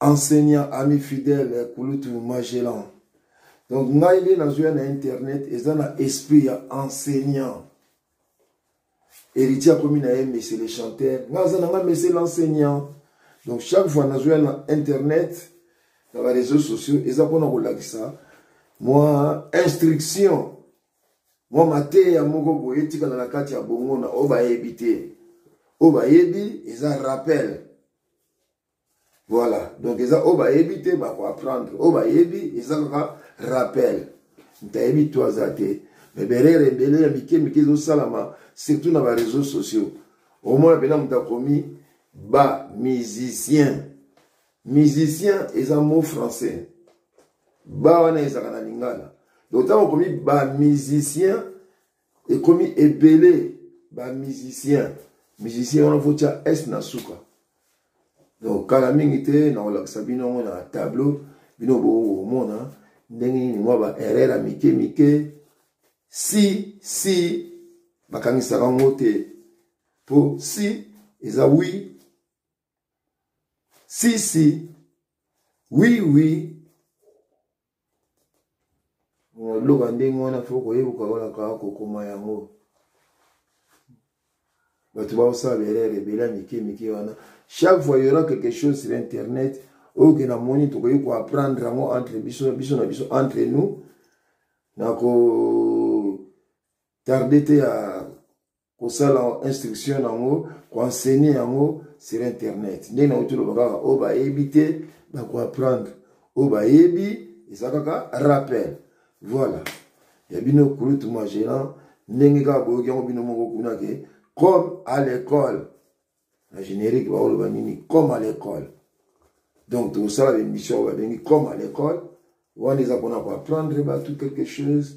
enseignant ami fidèle eh, kulutu magellan donc ngai nde nazoya na internet eza na esprit ya enseignant héritier akomi na ye monsieur le chanteur ngai aza na ngai monsieur l'enseignant donc chaque fois nazoya na internet na bareseau sociaux eza mpona kolakisa mwa instruction mwa mateya moko boye etikala na kati ya bongo na oyo bayebi te oyo bayebi eza rappel voilà donc eza oyo bayebi te bakoapprendre oyo bayebi eza kaka rappel moto ayebi to aza te me berere ebele ya mike mike ezosalama surtout na bareseau sociaux omona mpena moto akomi ba musicien musicien eza mot français ba wana ezalaka na lingala donc ntango okomi ba musicien ekomi ebele ba musicien musicien wana fotya s na suka donc kala mingi te nakolakisa bino yango na tableau bino bokomona ndenge nini mwa ba erreur ya mike mike si si bakangisaka yango te mpo si eza wi Si, si. Oui, oui. loba ndenge wana fo koyebuka wana kaka kokoma yango bato baosala berere ebele ya mike mike wana chaque fois yora quelque chose sur internet oyo ke namoni tokoki koapprendre yango entre biso biso na biso entre nous na ko tarde te ya kosala instruction yango koenseigne yango sur internet ndenge nauti oloba kaka oyo bayebi te bakoapprendre oyo bayebi eza kaka rappel voilà ya bino kulutu magelan ndenge kaka boyoki yango bino moko kuna ke comme à l'école na générique baoloba nini comme à l'école donc tokosala baémission oyo babengi comme à l'école wana eza mpona koapprendre bato quelque chose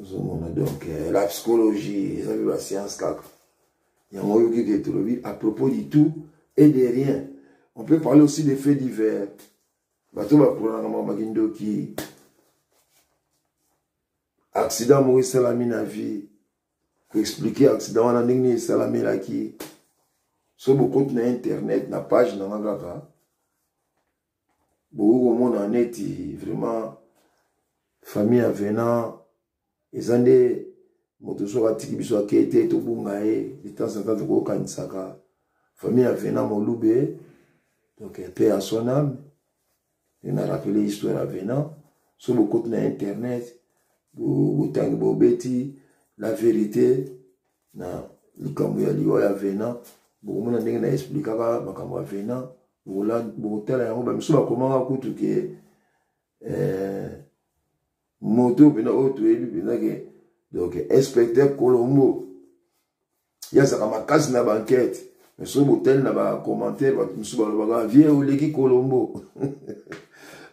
ozomona donc eh, la psychologie eza mpe bascience kaka yango oyoki ke tolobi à propos du tout et de rien on peut parler aussi des faits divers bato bakulanaka mwa bakindoki accident moko esalami na vie koexplike accident wana ndenge nini esalamelaki so bokoti na internet na page na nga kaka bokoki komona neti vraiment famille ya venant eza nde moto soki atiki biso akei te tobunga ye de temps en temps tokokanisaka famille ya venant molube donc mpe à son âme nde na rappele histoire ya venant soki bokoti na internet botangi bobeti la vérité na likambo ya liwa ya vena bokomona ndenge na explikaka makambo ya vena bokotala yango bamisu bakomaka kutu ke eh, moto mpena oyo toyebi mpenza ke donc inspecteur colombo ye azalaka makasi na bankete mais soki botali na bacommentaire bato mosusu balobaka vie oleki kolombo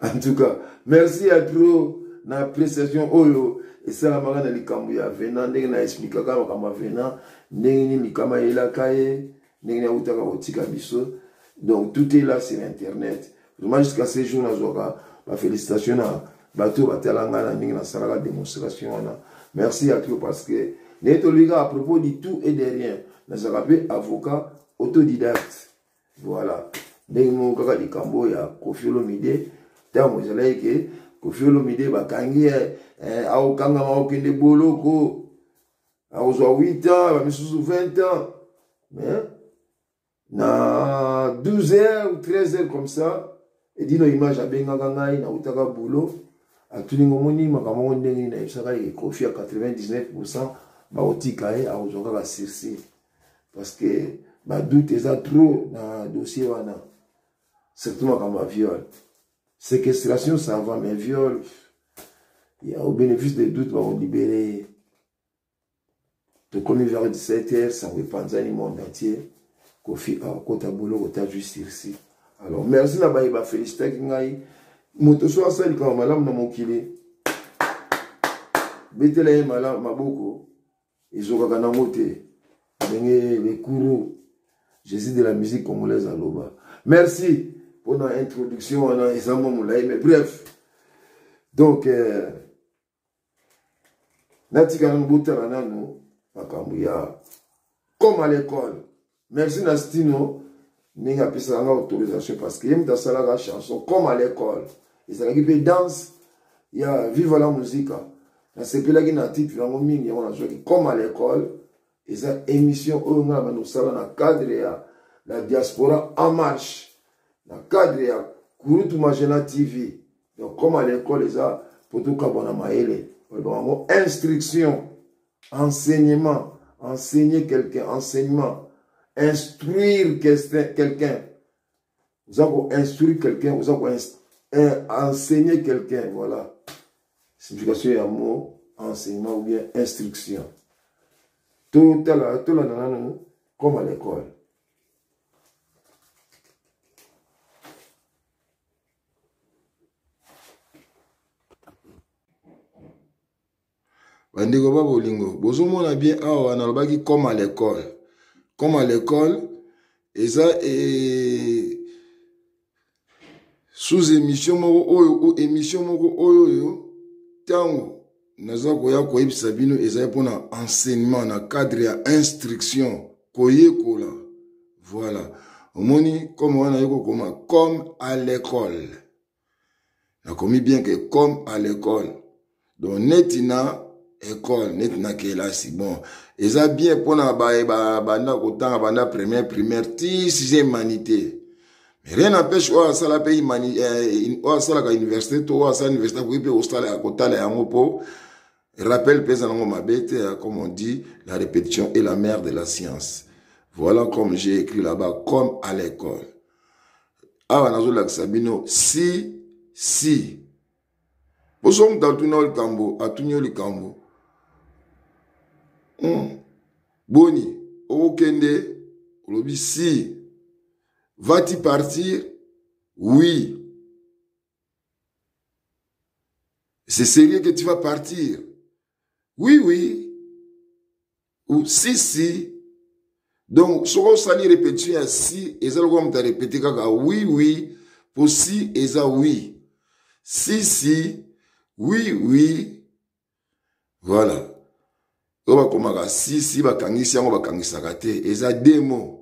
en tout cas merci ya trop na appréciation oyo esalamaka na likambo ya venant ndenge na explikaka makambo ya venant ndenge nini likama eyelaka ye ndenge nini awutaka kotika biso donc tout est là sur internet vraiment jusqu'à ce jour nazwaka bafélicitation na bato oyo batala ngai na ndenge nasalaka démonstration wana merci à toi parce que ndenge tolobi kaka à propos du tout et de rien nazalaka mpe avocat autodidacte voilà ndenge moko kaka likambo ya kofi olomide ntango ezalaki ke kofi olomide bakangi eh, eh, akokangama akokende boloko akozwa 8 ans bamisusu 20 ans mais na 12 heures ou 13 heures comme ça edino image abengaka ngai nautaka boulot atuni ngo moni makambo yango ndenge nini nayebisaka ye kofi ya 99 pourcent bakotika ye akozwa kaka sursi parce que badoute eza trop na dossier wana surtout makambo ya viole séquestration ça va mais viole au bénéfice de doute bakolibere ye tokomi vers 17 heures sango epanzani monde entier kofi akokota boloko ta justirci alors merci na baye bafelicitaki ngai moto so asala likambo malamu na mokili betela ye malamu maboko ezokaka nango te ndenge le courou jésus de la musique congolaise aloba merci mpona introduction wana eza mwa molai mais bref donc euh, natika nanu botala nanu makambo ya comme à l'école merci na stino ndenge apesaka nga autorisation parce que ye moto asalaka chanson comme à l'école ezalaki mpe danse ya viva la musica nasepelaki na titre yango mingi yango nazwaki comme à l'école eza émission oyo ngai abanda kosala na cadre ya la diaspora en marche na cadre ya kurutu magena tv donc comme à l'école eza mpo tokabwana mayele olobaka yango instruction enseignement enseigner quelqu'un enseignement instruire quelqu'un oza ko instruire quelqu'un oza ko eh, enseigner quelqu'un voilà signification ya mot enseignement ou bien instruction totala tolanda nanu comme à l'école bandeko ba bolingo bozomona bien awa nalobaki comme à l'école comme à l'école eza e... sous émission moko oyo o émission moko oyo oyo ntango naza koya koyebisa bino ezali mpona enseignement na cadre ya instruction koyekola voilà omoni comme wana naye kokoma comme à l'école nakomi bien que comme à l'école donc neti na école neti na kelasi bon eza bien mpona baye banda kotanga banda première primaire ti sixième manité mais rien n'empêche oyo asala mpe eh, oyo asalaka université to oyo asala université akoki mpe kosala kotala yango mpo rappel mpe eza nango mabe te hein, comme on dit la répétition est la mère de la science voilà comme j'ai écrit là-bas comme à l'école awa nazolakisa bino si si boso moto atuna yo likambo atuni yo likambo hmm. boni okokende olobi si vas-tu partir oui c'est sérieux que tu vas partir oui oui ou si si donc soki osali répétition ya si eza lokola moto arépéte kaka oui oui mpo si eza oui si si oui oui voilà oyo bakomaka si si bakangisi yango bakangisaka te eza demo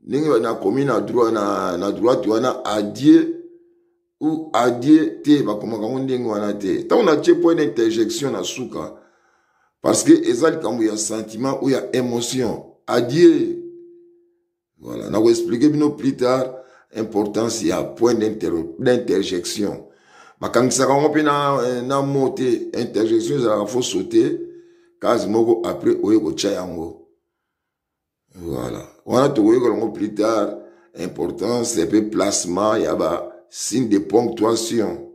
ndenge nakomi na droit na, na droite wana adie ou adie te bakomaka yango ndenge wana te ntango natie mpo ena interjection na suka parce que eza likambo ya sentiment ou ya émotion adie voilà nakoexplike bino plus tard importance ya point d'interjection bakangisaka yango mpe na, eh, na mo te interjection ezalaka fo saute case moko après oye kotya yango Voilà. Wana tokoyoka yango plus tard importance et puis placement ya ba signe de ponctuation.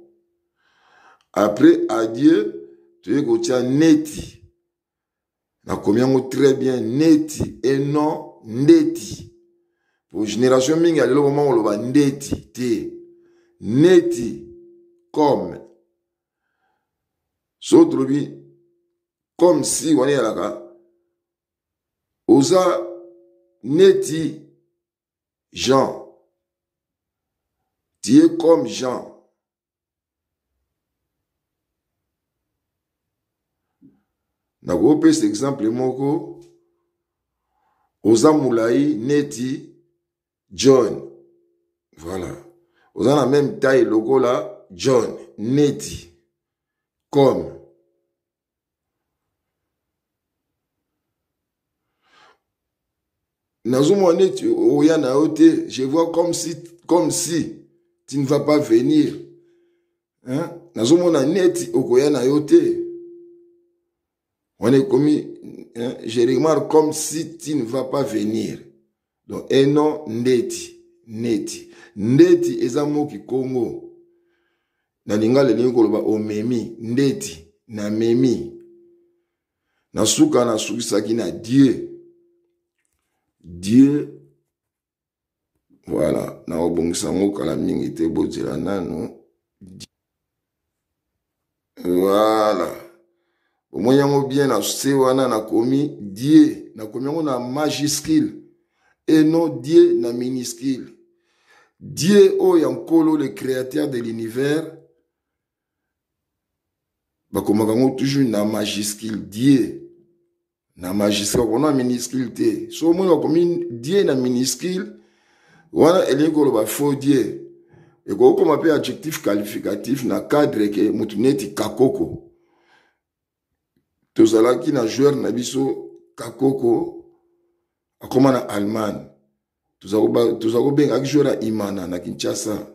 Après adieu toye kotia neti. Nakomi yango très bien neti et non ndeti. Pour génération mingi ya lelo vraiment oloba ndeti te. Neti comme so tolobi comme si wana eyalaka oza neti jean tie comme jean nakopesa exemple moko oza molai neti john voilà oza na meme taille lokola john neti comme nazomona neti oya na yo te je vois comme si, comme si tu ne vas pas venir hein? nazomona neti okoya na yo te wana ekomi je remarque comme si tu ne vas pas venir donc e non ndeti neti ndeti eza mo kikongo na lingala elingi koloba omemi ndeti namemi na suka nasukisaki na die die voilà nakobongisa yango kala mingi te bozela nano voilà omoni yango bien na se wana nakomi die nakomi yango na majuscule et non die na minuscule die oyo ya nkolo le créateur de l'univers bakomaka yango toujours na majuscule die na magistrat okona miniscule te so omoni bakomi die na miniscule wana elingi koloba faux die ekoki koma mpe adjectif qualificatif na cadre ke motu neti kakoko tozalaki na joueur na biso kakoko akoma na allemagne toza kobenga aki joueur ya imana na kinshasa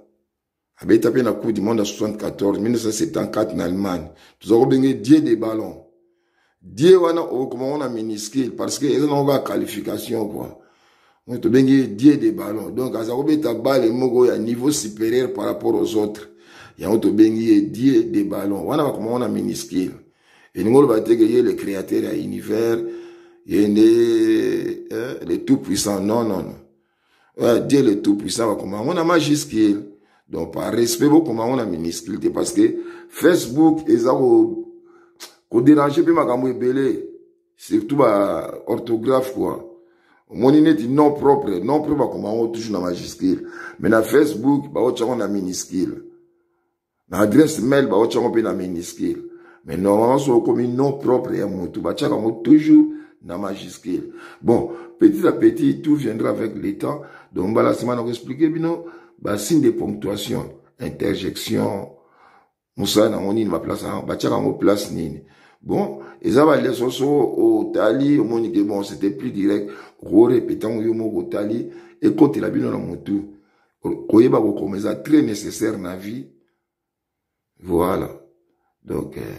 abeta mpe na coupe du monde ya 74 1974 na allemagne toza kobenge die de ballon die wana okoma ngo na miniscule parce que eza nango kaka qualification kua oyo tobengi ye die de ballon donc aza kobeta bale moko ya niveau supérieur par rapport aux autres yango tobengi ye die de ballon wana bakoma ngo na miniscule elingi oloba te ke ye le créateur ya univers ye nde eh, le tout puissant non non non eh, dieu le tout puissant bakoma yango na majuscule donc par respect bokoma yango na minuscule te parce que facebook eza koderange mpe makambo ebele surtout ba orthographe quoi omoni neti non propre non propre bakoma yango toujours na majuscule mais na facebook baotya yango na minuscule na adresse mail baotya yango mpe na minuscule mais normalement soki okomi nom propre ya motu batyaka yango toujours na majuscule bon petit à petit tout viendra avec le temps donc mbala nsima na koexplike bino basigne de ponctuation interjection mosala nango nini baplace yango batyaka yango place nini bon eza baleso so otali omoni ke bon c'était plus direct okorepete yango yo moko otali ekotela bino na motu koyeba kokoma eza très nécessaire na vie voilà donc euh,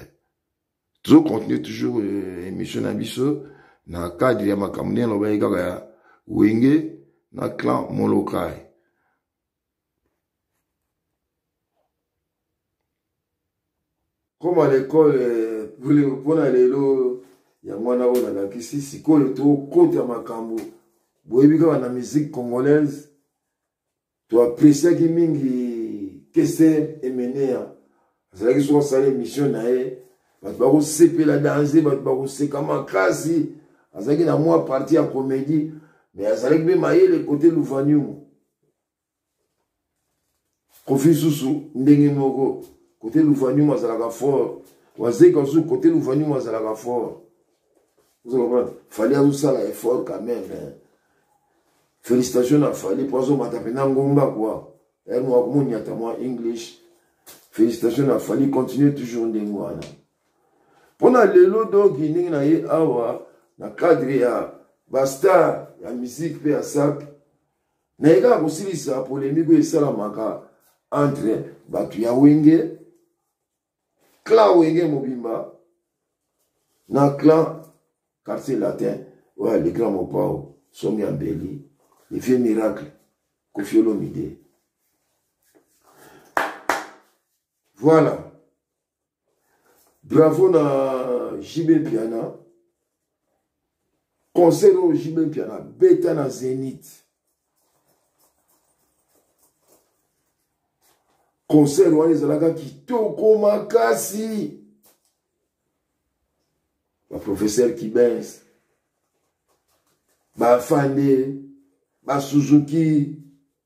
tozo continue toujours euh, émission na biso na cadre ya makambo ndenge alobaki kaka ya wenge na clan molokai koma lekole euh, mpo na lelo yango wana oyo nalakisi sikoyo tokota makambo boyebi kaka na musique congolaise toapresiaki mingi kester emenea azalaki soki asala émission na ye bato bakosepela danze bato bakoseka makasi azalaki na mwa parti ya comédie mais azalaki mpe mayele kote luvaniumu kofi zuzu ndenge moko kote luvanium azalaka fort wazeka zuzu kote luvanium azalaka fort fali azosala effort quand même hein. félicitation na fali mpo azomata mpena ngomba kua ere mwa komonyata mwa english félicitation na fali continue toujours ndenge wana mpo na lelo donki ndenge na ye awa na cadre ya bastar ya musique mpe ya sape naye kaka kosilisa polemike oyo esalamaka entre bato ya wenge clan wenge mobimba na clan quartier latin oyo le grand mopao somi ya mbeli le vieux miracle kofiolomide voilà bravo na jb mpiana concert oyo jb mpiana beta na zenith concert wana ezalaka kitoko makasi baprofesseur kibens bafande basuzuki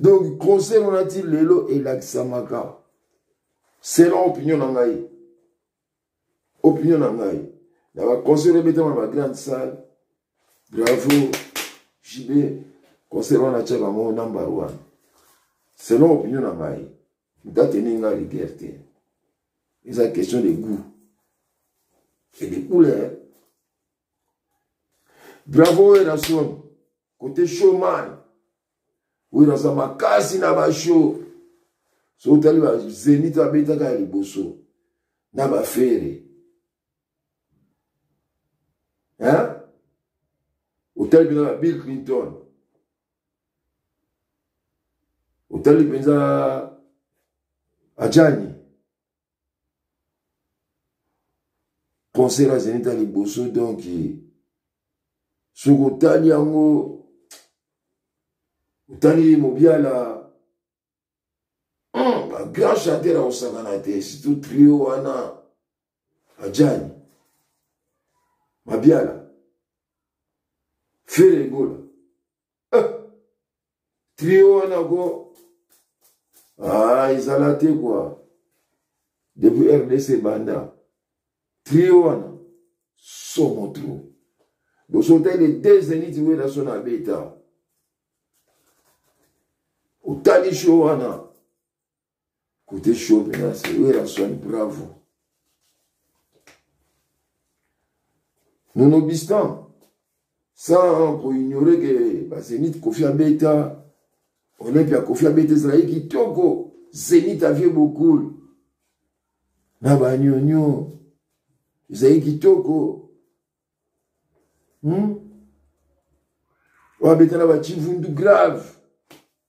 donc conseil wana ti lelo elakisamaka selon opinion na ngai opinion na ngai na baconseil ebetama na bagrande salle bravo jb conseil wana atyaka yango number one selon opinion na ngai ntateni ngai rigueur te eza question de goût et de couleur Bravo Werrason, côté chômage. Werrason makasi na ba show. So otali ba Zenith abetaka ya liboso na ba fere. Hein? Otali mpenza ba Bill Clinton. Otali mpenza Ajani. concert ya zenit ya liboso donc soki otali yango otali mobiala hmm, bagrand chanteur akosakana te surtout trio wana ajani mabiala fere egola eh. trio wana ko ah, ezala te kua depuis rdc banda trio wana somo tro bosotali deux zeniti wela so na beta otali sho wana Côté show, maintenant, c'est Werrason, bravo. Nonobistant, sans qu'on ignorait que bah, Zénith Kofi Abeta, Olympia Kofi Abeta, Israël qui toko, Zénith avait beaucoup. Naba Nyonyo, Israël qui toko. Hmm? Wabeta Naba Chivundu grave.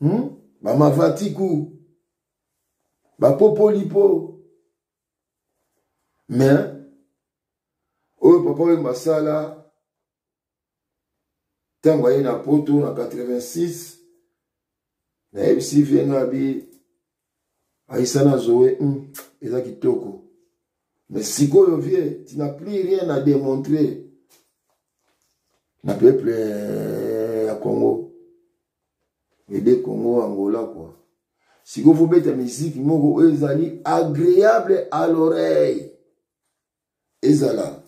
hmm? bamavatiku bapopoli mpo me oyo papa oyo masala ntango aye na poto na 86 nayebisi vie ngabi aisana zoe mm, eza kitoko mais sikoyo vie tu n'as plus rien à démontrer na peuple eh, ya congo ede congo angola kua sikoyo fobeta miziki moko oyo ezali agréable à l'oreille ezala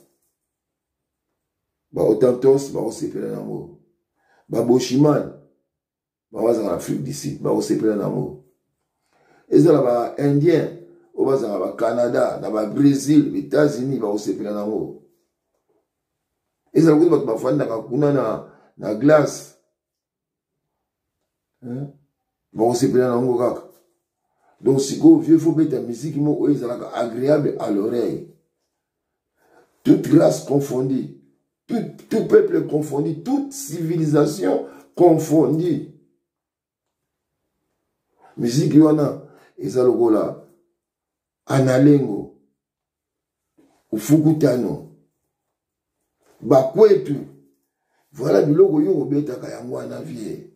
baotantos bakosepela yango baboshimane bango bazalaka na afrique du sud bakosepela na yango ezala ba indien oyo bazalaka ba canada na ba brésil ba états-unis bakosepela na yango ezala kutu bato bafandaka kuna na, na glace bakosepela na yango kaka donc sikoyo vieux fo beta miziki moko oyo ezalaka agréable à l'oreille toute race confondue, tout, tout peuple confondu, toute civilisation confondue. Musique wana eza lokola analengo ufukutano bakwetu voilà biloko yo obetaka yango wana vie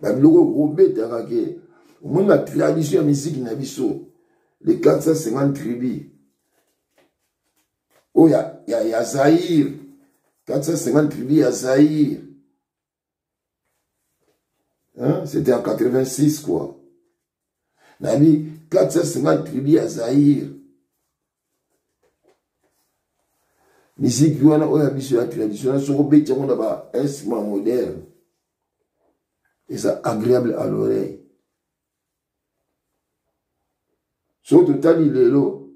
babiloko okobetaka ke omoni na tradition ya miziki na biso le 450 tribu oyo ya, ya, ya zaire 450 tribu ya zaire hein? c'était en 86 quoi nayebi 450 tribu ya zaire miziki wana oyo ya biso ya traditionnel soki obeti yango na bainstrument moderne eza agréable à l'oreille soki totali lelo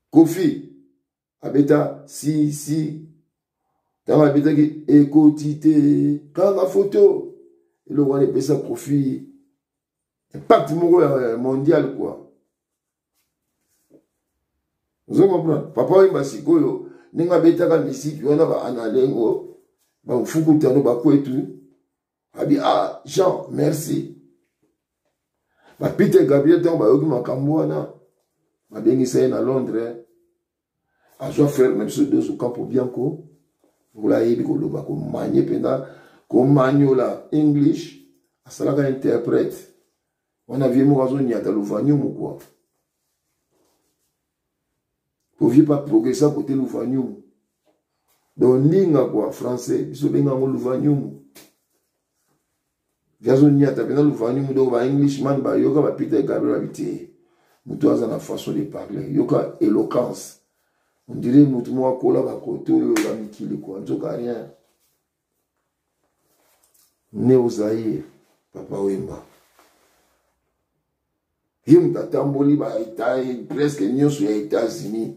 kofi abeta si si ntango abetaki ekoti te kaka foto eloko wana epesa kofi impact moko ya mondial kua ozo comprendre papa oyemba sikoyo ndenge abetaka misiki wana baanalengo bamfukutano bakwetu abi ah jean merci bapite gabriel ntango bayoki makambo wana babengisa ye na londres azwa frere na biso dozo campo bianco lokola ayebi koloba komanye mpenza komanyola english asalaka interprète wana vie moko azonyata luvaniumu kua Ovi pas progressa côté Louvanium. Donc ninga quoi français biso benga ngo Louvanium. Jazo nyata pena Louvanium donc ba Englishman ba yoka ba Peter Gabriel habité. Mutu aza na façon de parler, yoka éloquence. On dirait mutu mwa kola ba koto yo ba mikili quoi. Nzoka rien. Neo Zaire, Papa Wemba. Ye moto atamboli ba eta presque nyonso ya États-Unis.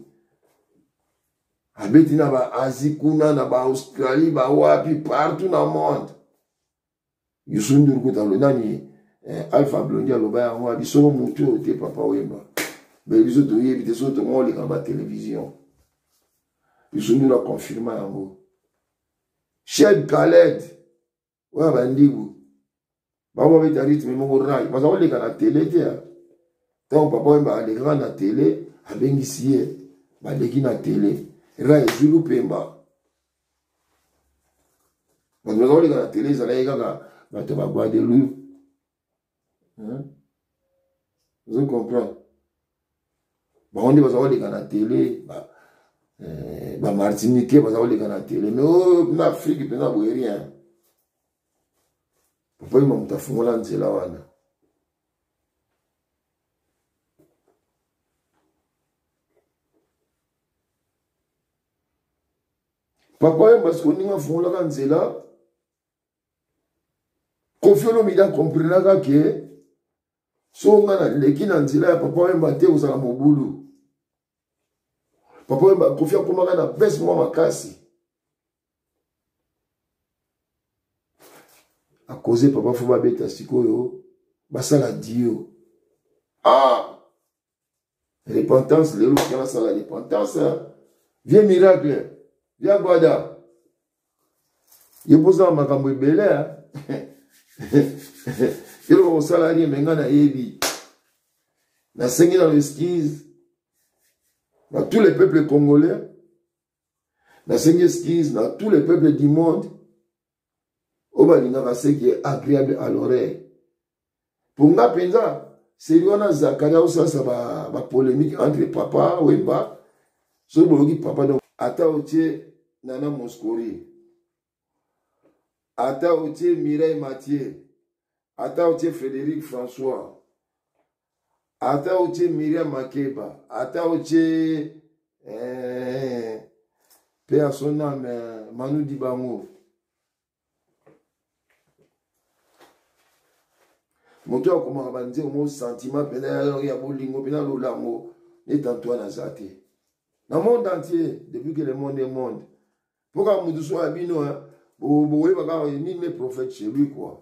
Abeti na ba Asie kuna na ba Australie ba wapi partout na monde. Youssou Ndour kuta nani eh, Alpha Blondy aloba yango abi soko mutu oyo te papa Wemba mais biso toyebi te soki tongo oleka ba télévision Youssou Ndour aconfirma yango Shed Khaled oyo bandibu bango babeta rythme moko rai baza koleka na tele te ntango papa Wemba alekaka na tele abengisi ye baleki na tele rai ezwi lupemba bato baza koleka na tele ezalaki kaka bato ba guadeloupe ozo comprendre bango nde baza koleka na tele bamartinike eh, baza koleka na tele me oyo oh, na afrike mpenza boye rien papa yuma moto afungola nzela wana papa yemba sikoninga afungolaka nzela kofi olomide akomprenaka ke so nga naleki na nzela ya papa yemba te kozala mobulu papa yemba kofi akomaka na bese mwa makasi akoze papa fo babeta sikoyo basala dio ah repentance lelo oke nasala repentance vie miracle via gwada ye mpoza na makambo ebele eloko kosala rie me ngai nayebi nasengi na esquise na tous les peuples congolais nasengi esquise na tous les peuples du monde oyo balingaka seki agréable à l'oreille mpo nga mpenza seri wana zakaria osalisa bapolémique ba entre papa wemba soki boyoki papa donc ata otie nana moscori ata otie mireille mathieu ata otie frédéric françois ata otie miriam makeba ata otie eh, pe ya son ame eh, manu dibango moto oyo akomaka banzembo mo sentiment mpena ya bolingo mpena lolango neti antoine aza te na monde entier depuis que le monde est monde mpo kaka moto so ya bino bokoyeba kaka nini me prophète chez lui kua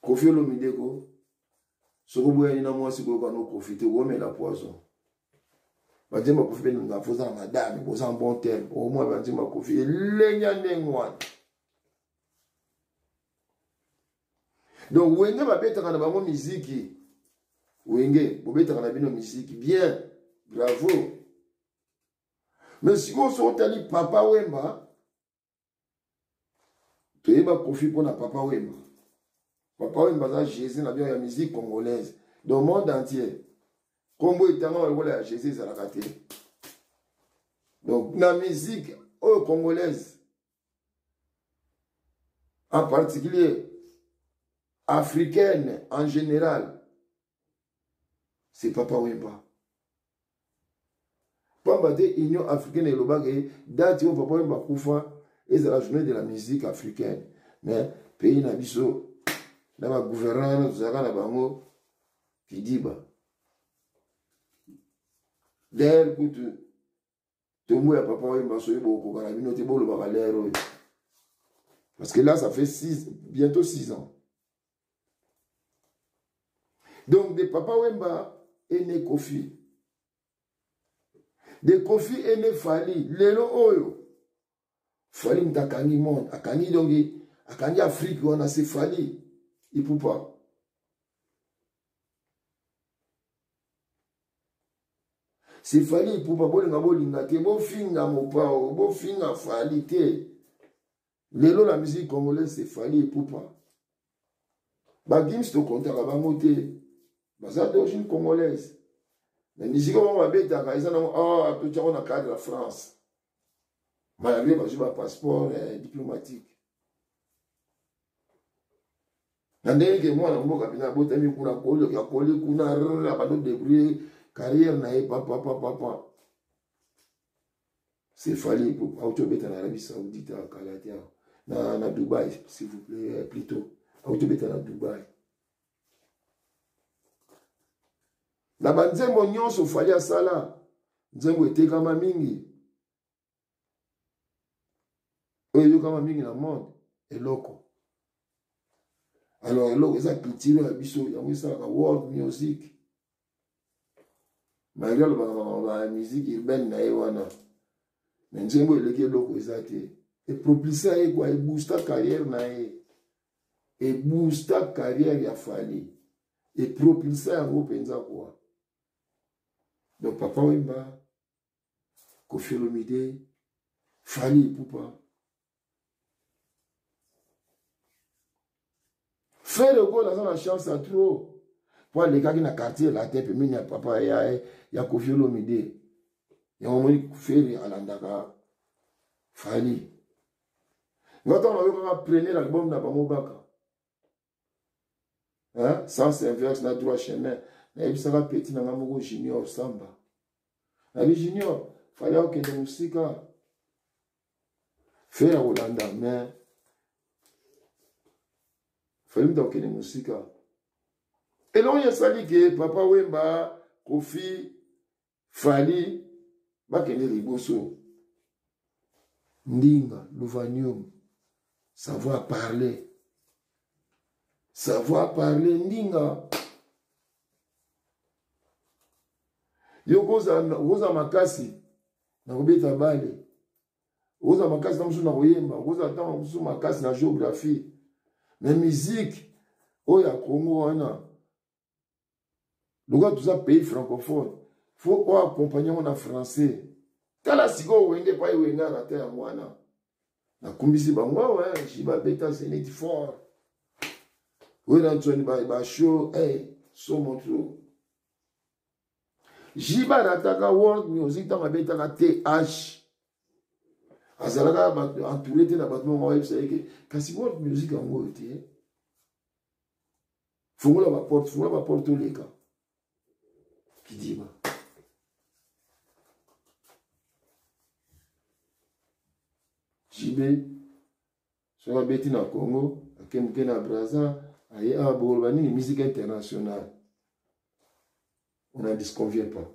kofi olomide ko soki oboyani na mwasi koyoka no kofi te okomela poison banzemba kofi mpe nanga fo oza na madame boza en bon terme omwa banzemba kofi elenya ndenge wana donc wenge babetaka na bango miziki wenge bobetaka na bino miziki bien bravo mais sikoyo soki otali papa wemba toyeba kofi mpo na papa wemba papa wemba aza jésus na bino ya musique congolaise dans monde entier nkombo etangama lokola ya jésus ezalaka te donc na musique oyo congolaise en particulier africaine en général c'est papa wemba pamba te union africaine elobaka ye date oyo papa wemba akufa ezala journée de la musique africaine mais pays na biso na bagouverneur wana tozalaka na bango kidiba daire kutu ntongo ya papa oyemba soki bokokoka na bino te bolobaka lere oyo parce que là ça fait six, bientôt six ans donc de papa wemba est né kofi de kofi est né fali lelo oyo fali moto akangi monde akangi donki akangi afrique wana se fali ipupa se fali ipupa bolinga bolinga te bofinga mopao bofinga fali te lelo la musique congolaise se fali ipupa bagims tokontaka bango te baza d'origine congolaise na miziki bango babetaka eza nango ah, totyako na cadre ya france malgre bazwi ba passeport eh, diplomatique na ndenge ke mwana mboka mpena abotami kuna koli akoli kuna abando debrouille carrière na ye papapapapa c'est fali auti obeta na arabie saoudite akala te na, na dubai s'il vous plaît eh, plutôt auti obeta na dubai na banzembo nyonso fali asala nzembo etekama mingi oyo eyokama mingi na monde eloko alors eloko eza culture ya biso yango esalaka world music malgre alobaka bamaloba ya musique urbaine na ye wana me nzembo eleki eloko eza te epropulsa ye kwa eboosta carrière na ye eboosta carrière ya fali epropulsa yango mpenza kwa donc papa wemba Kofi Olomide, Fanny Ipupa, Frère Ogo naza na chance ya trop mpo alekaki na quartier latin pembeni ya papa ya, ya Kofi Olomide yango omoni Ferre alandaka Fally nga ntango nayokaka premier album na bango baka hein? sens inverse na droit chemin nayebisaka petit na nga moko junior samba nabi junior fali akokende mosika fere akolanda mais fali moto akokende mosika elongi esali ke papa wemba kofi fali bakende liboso ndinga luvanium savoir parler savoir parler ndinga yo kozala makasi na kobeta bale okozala makasi na mosusu na koyemba okozala ntango mosusu makasi na géographie me miziki oyo ya kongo wana lokola toza pays francophone fo oyo akompagne yango na français tala sikoyo wenge epai wenge arata yango wana nakumbisi bango awa ji babeta zenit fort oyo na nsoni basho eh, somo tro ji barataka world music ntango abetaka th azalaka entouré te na bato moko ayebisa ye ke kasi world music yango oyo te fungola baporte fungola baporte oleka kidima jibe soki abeti na congo akemuke na braza aye awa boloba nini musique internationale on n'en disconvient pas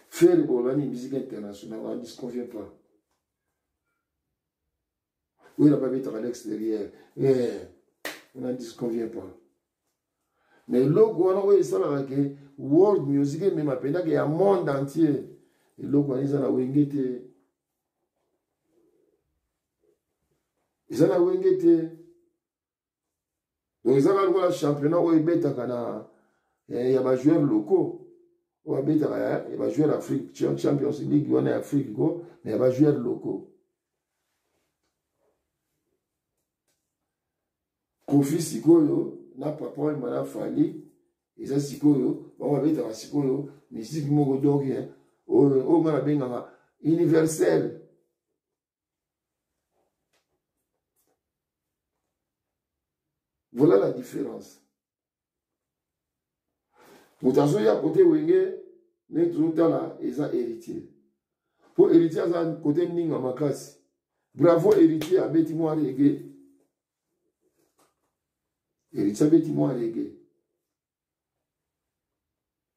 faire boloba nini musique internationale on n'en disconvient pas Oui, la baby est à l'extérieur. Eh, on n'en disconvient pas. Mais eloko wana oyo esalaka ke world music emema mpendaka ya monde entier eloko wana eza na wenge te eza na wenge te donc ezaka lokola championnat oyo ebetaka na eh, ya bajoueur locaux oyo abetaka ya bajoueur afrique champions league wana ya afrique ko na ya bajoueur locaux kofi sikoyo na papa oyo mana fali eza sikoyo bango babetaka sikoyo misiki moko donc eh, oyo nga nabengaka universel Voilà la différence. moto azoya kote wenge nde tozotala eza héritier mpo héritier aza kote ninga makasi bravo héritier abeti mwa rege héritier abeti mwa rege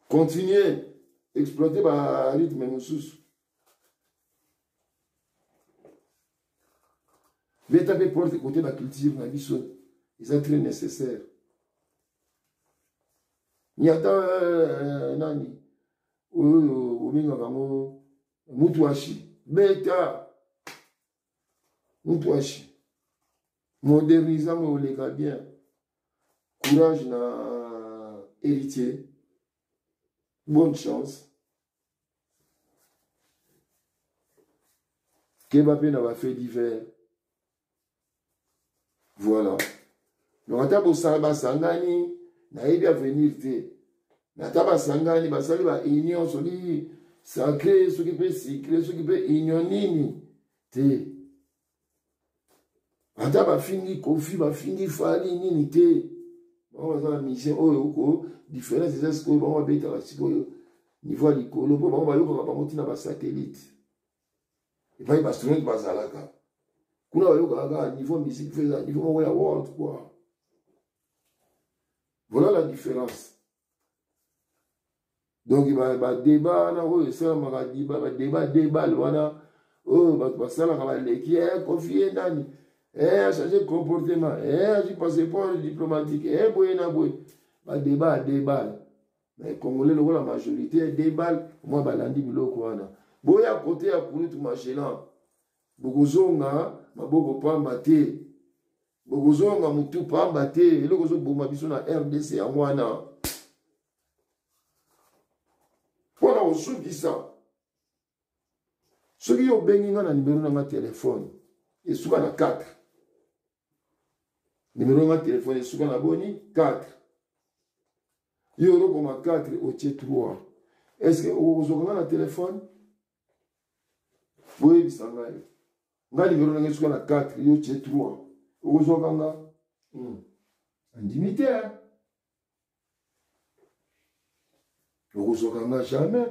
Continuez. Exploitez ba rythme mosusu. Beta mpe porte kote ba culture na biso eza très nécessaire. Nyata euh, nani oyo obengaka yango mutuashi beta mukwashi moderniza mo oleka bien courage na héritier bonne chance keba mpe na bafait divers voilà donc ata bosala basangani nayebi avenir te me ata basangani basali ba union soki sacre soki mpe secre soki mpe union nini te ata bafingi kofi bafingi fali nini te bango baza na mission oyo oko différence eza sikoyo bango babetaka sikoyo niveau ya likolo mpo bango bayokaka bango ntina basatelite epai baastronaute bazalaka kuna bayokaka kaka niveau musique feza niveau moko ya world quoi voilà la différence donc badeba wana oyo esalamaka badeba debale wana oyo oh, bato basalaka baleki e eh, kofie nani e eh, achange comportement e eh, azwi passeport diplomatique e boye na boye badeba adebale mais congolais lokola majorité ya debal mwa balandi biloko wana boya kote ya kulutu magelan bokozonga maboko pamba te bokozonga motu pamba te eloko ezoboma biso na rdc yango wana mpo na kosukisa soki yo obengi nga na nimero na nga telefone esuka na 4 nimero na nga telefone esuka na boni 4 yo olokoma 4 otie 3 estce okozwaka nga na telefone boyebisa ngai nga nimero na nga esuka na 4 yo tie 3 okozwaka nga hmm. andimi te okozwaka nga jamais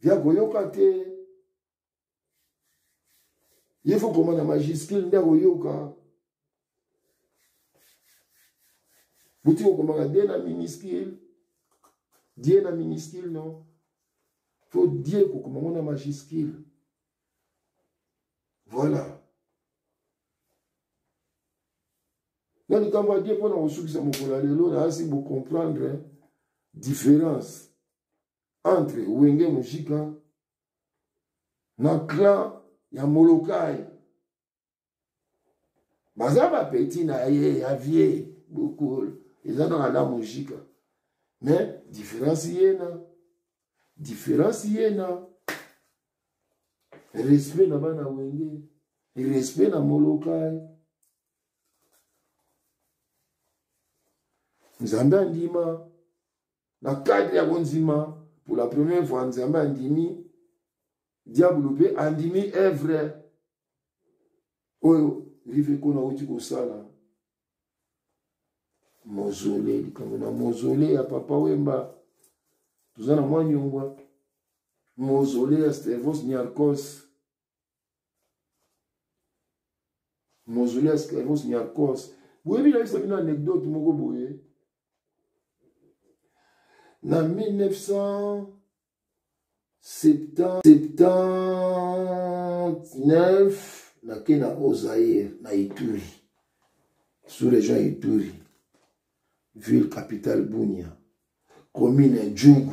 via koyoka te ye fo koma na majuscule nde akoyoka boti kokomaka de na minuscule die na minuscule non fo die kokoma ngo na majuscule voilà na likambo ya die mpo na kosukisa mokolo ya lelo nayasi bocomprendre différence entre wenge mujika na clan ya molokai baza bapeti na ye ya vie bokol eza kaka na mujika mais différence yena différence yena respect na bana wenge respect na molokai nzambe andima na cadre ya kondima pour la première fois nzambe andimi diabulu mpe andimi evre oyo rive kona auti kosala mozole likambo na mozole ya papa wemba toza na mwa nyongwa mozole ya stervos niarcos mozoli ya sclavos niakos boyebi nayebisa bino anecdote moko boye na 1979 nake na ozaire na ituri sous région ya ituri ville capitale bunia commune ya djugu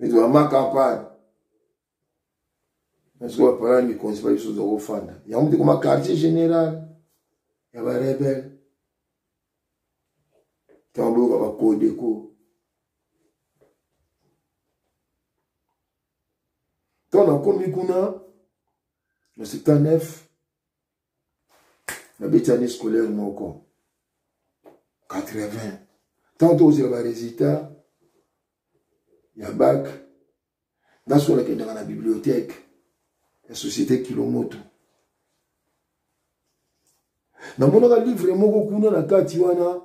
ezwama campagne nasoki bapalana mikonzi ba biso ozwa kofanda yango mpe koma quartier général ya barebele ntango boyoka bakodeko ntango nakomi kuna na 79 nabeti année scolaire moko 80 ntango tokozela baresultat ya bak nasola kendaka na bibliothèque ya société kilomoto namonaka livre moko kuna na kati wana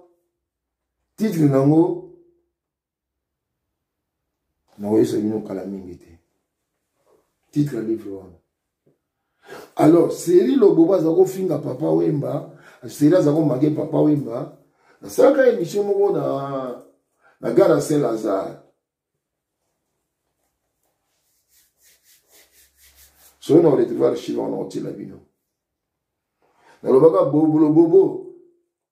titre nango nakoyebisa bino kala mingi te titre ya livre wana alors seri lobobo aza kofinga papa wemba seri aza komage papa wemba nasalaka émission moko na na gara se lazare soki na retrouve archive wana otiela bino nalobaka bobolobobo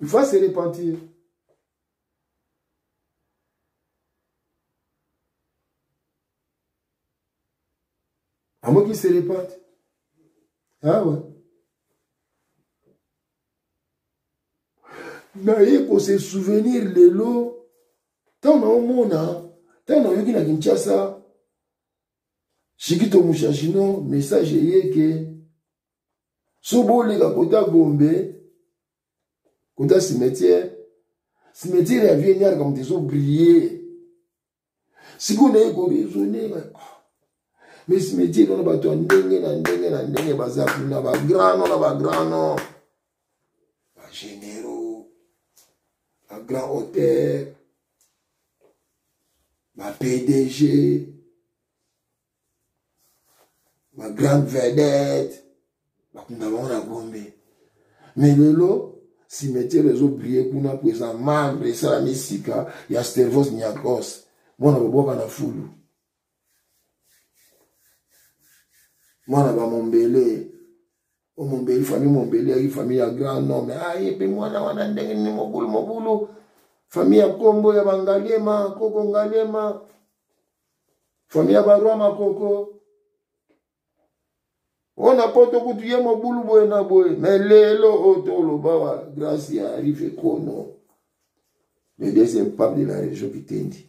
Il faut se repentir. À moins qu'il se répète. Ah ouais. naye kose souvenir lelo ntango naomona ntango nayoki na kinshasa Chikito Mushashino, message eye ke so boleka kota Gombe, kota cimetière, cimetière ya vie nyaraka moto ezo briller. Sikoyo naye kobi ezo nenga. Ah, mais cimetière wana bato ya ndenge na ndenge na ndenge baza kuna ba grand no na ba grand no. ba généraux ba grand hôtel ba pdg ba grande vedette bakunda bango na gombe me lelo cimetière ezobrille kuna mpo eza marbre esalami sika ya stervos niakos mwana babwaka na fulu mwana bamombele o mombeli famille mombeli yaki famille ya grand nome aye mpe mwana wana ndenge nini mobulu mobulu famille ya nkombo ya bangaliema koko ngaliema famille ya barwa makoko oyo na poto kutu ye mobulu boye na boye me lelo oyo toloba wa grace ya rive kono le deuxième pape de la région kitendi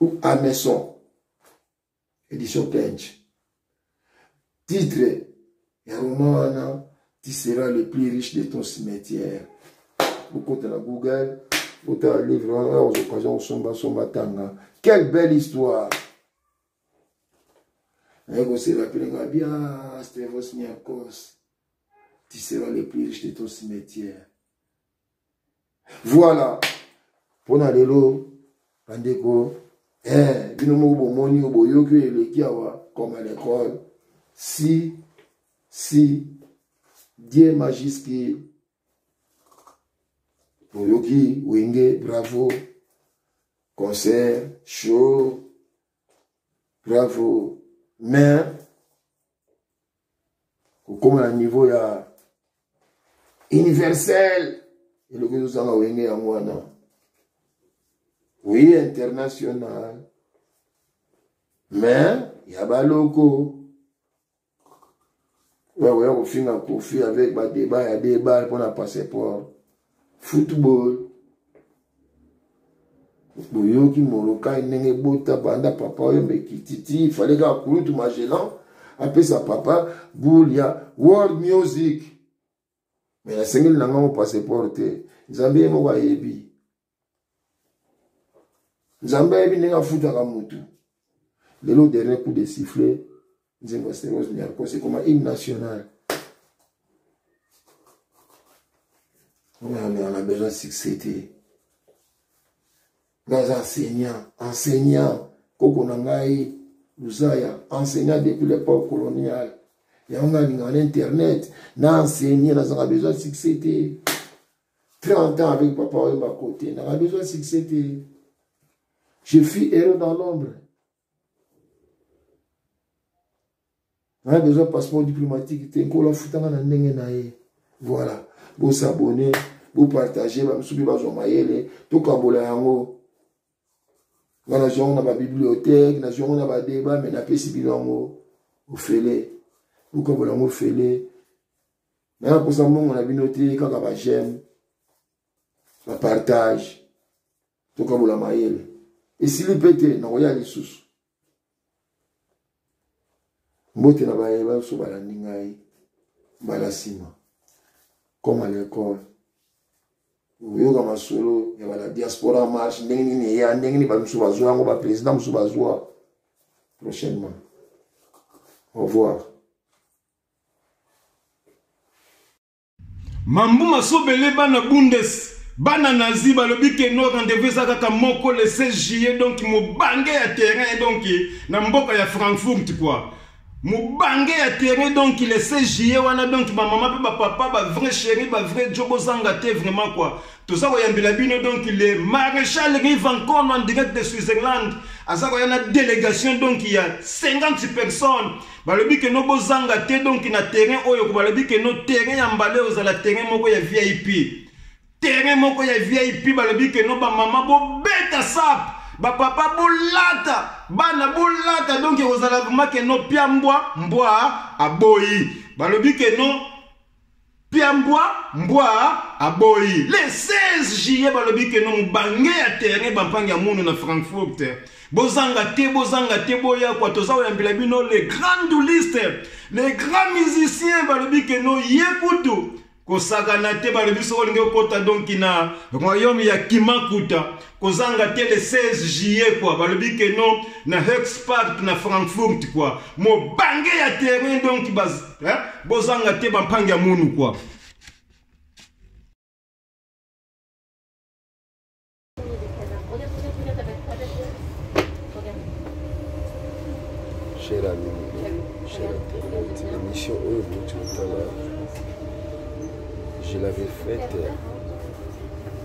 ou Ameson édition Kench titre ya roman wana tu seras le plus riche de ton cimetière okota na google otala livre wana ozokaza kosombasomba tanga quelle belle histoire naye koserapele nga bia stevos niakos tu seras le plus riche de ton cimetière Voilà. Pona lelo bandeko eh bino moko bomoni oyo boyoki oyo eleki awa comme à l'école si si die majiski boyoki wenge bravo concert show bravo mais kokoma na niveau ya universel eloko ezozanga wenge yango wana oui international mais ya baloko oyo akoya kofinga kofi avec badeba ya debar mpo na passeport football boyoki molokai ndenge bota banda papa oyo mekititi ifale kaka kulutu magellan apesa papa boule ya world music me nasengeli na ngango passeport te nzambe ye moko ayebi nzambe ayebi ndenge afutaka motu lelo dernier coup de sifflet nzembo ya steros niarcos ekoma hymne national omeamela na besoin succès te nga aza enseignant enseignant koko na ngai luzaya enseignant depuis l'époque coloniale yango nga alingaka na internet na enseigne nazanga besoin succès te 30 ans avec papa oyemba kote nanga besoin succès te je fus heureux dans l'ombre nanga besoin passeport diplomatique te nkolo afutanga na ndenge na ye voilà bosabone bopartage bamosusu mpe bazwa mayele tokabola yango nga nazwi yango na babibliothèque nazwi yango na badeba me napesi bino yango ofele bokabola yango ofele naya kosa mbongo na bino te kaka ba j'aime ba partage tokabola mayele esili mpe te nakoya lisusu mbote na baye banso balandi ngai mbala nsima comme à l'école oyoka masolo ya bala diaspora marche ndenge nini eya ndenge nini bamisu bazwa yango baprésident mosusu bazwa prochainement au revoir Mambu masobele bana bundes bana nazi balobi ke no rendez-vous eza kaka moko le 16 juillet donc mobange ya terrain donc na mboka ya Frankfurt quoi mobange ya terrain donc le 16 juillet wana donc ba maman pe ba papa ba vrai chéri ba vrai jo bozanga te vraiment quoi toza koyambela bino donc le maréchal rivancon en direct de switzerland aza koya na délégation donc ya 50 personnes balobi ke no bozanga te donc na terrain oyo ko balobi ke no terrain ya mbale ozala terrain moko ya vip terrain moko ya vip balobi ke no bamama bobeta sape bapapa bolata bana bolata donk ekozala vraimen ke no pia mbwa mbwa aboyi balobi ke no Piambwa mbwa aboyi le 16 juillet balobi ke no mobange ya terrain bampangi ya munu na Frankfurt bozanga te bozanga te boya kwa toza koyambela bino le grand douliste le grand musicien balobi ke no ye kutu kosakana te balobi soki olingi okota donki na royaume ya kimakuta kozanga te le 16 juillet kwa balobi ke no na hexpark na frankfurt kwa mobange ya terrain donc eh, bozanga te bampangi ya munu kwa cher ami cher internaute émission oyo bouti otala je l'avais faite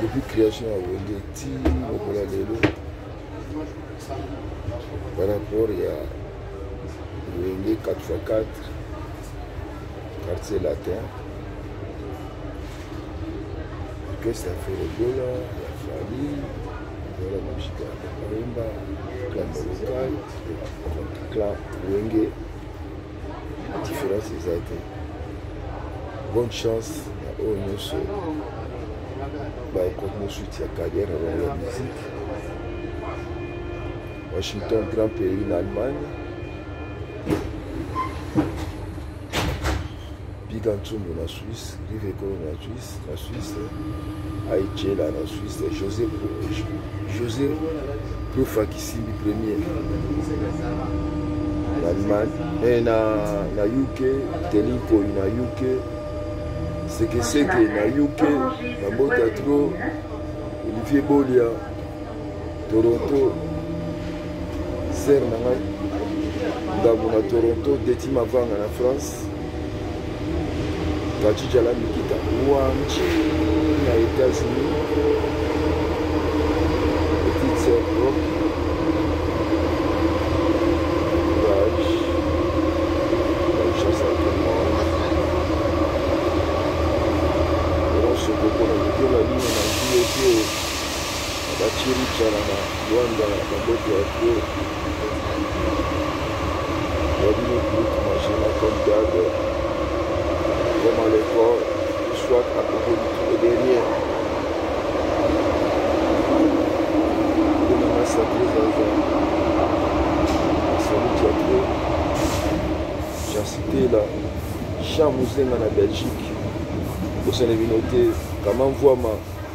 depuis création ya wenge ti lokola lelo par rapport ya wenge 4x4 quartier latin orchestre ya feregola ya fali voilà mashika kalemba clan molokai clan wenge différence eza te bonne chance na oyo nyonso baekontinue suite ya carrière na bango ya musique washington grand pays na allemagne biga ntsumbu na Suisse, live ekolo na Suisse, na Suisse, aichela na Suisse, José, José Profa Kisimbi premier na Allemagne, eh, na, na UK, Telinkoy na UK, Sekeseke na UK, na Mbota Tro, Olivier Bolia, toronto ser na ngai ndambo na toronto deti mavanga na france kachijala mikita wanji na états-unis petite ser rock ba chiricha na ba Rwanda na mboka ya Gro ya bino groupe Magina comme d'hab comme à l'école soit à propos du tout le dernier Kuna masa prezaza Salut ya Gro Jean Cité là Jean Muzenga na Belgique bosana bino te kama mvuama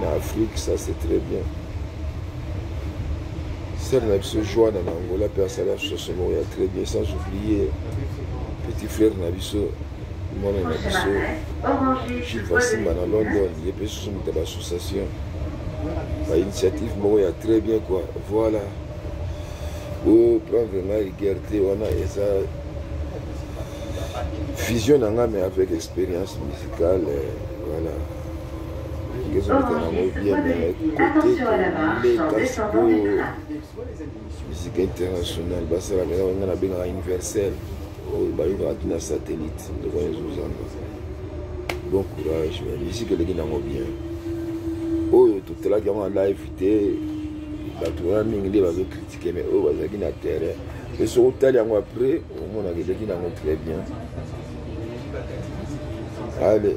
na afrique ça c'est très bien sere na biso joana na angola mpe asala association moko ya très bien sans oublier petit frère na biso mwana na biso jules vasimba na london ye mpe susu moto ya baassociation bainitiative moko ya très bien quoi voilà oprendre nga rigueur te wana eza vision na nga mais avec expérience musicale euh, voilà musique internationale basalaka eza banga nabengaka universel oyo bayokaka tina satellite ndeko wana ezozanga bon courage mais musique eleki nango bien oyo totalaki yango na live te bato wana mingi nde bazokritike mais oyo bazalaki na terrain mpe soki otali yango après omonaka eleki nango très bien ale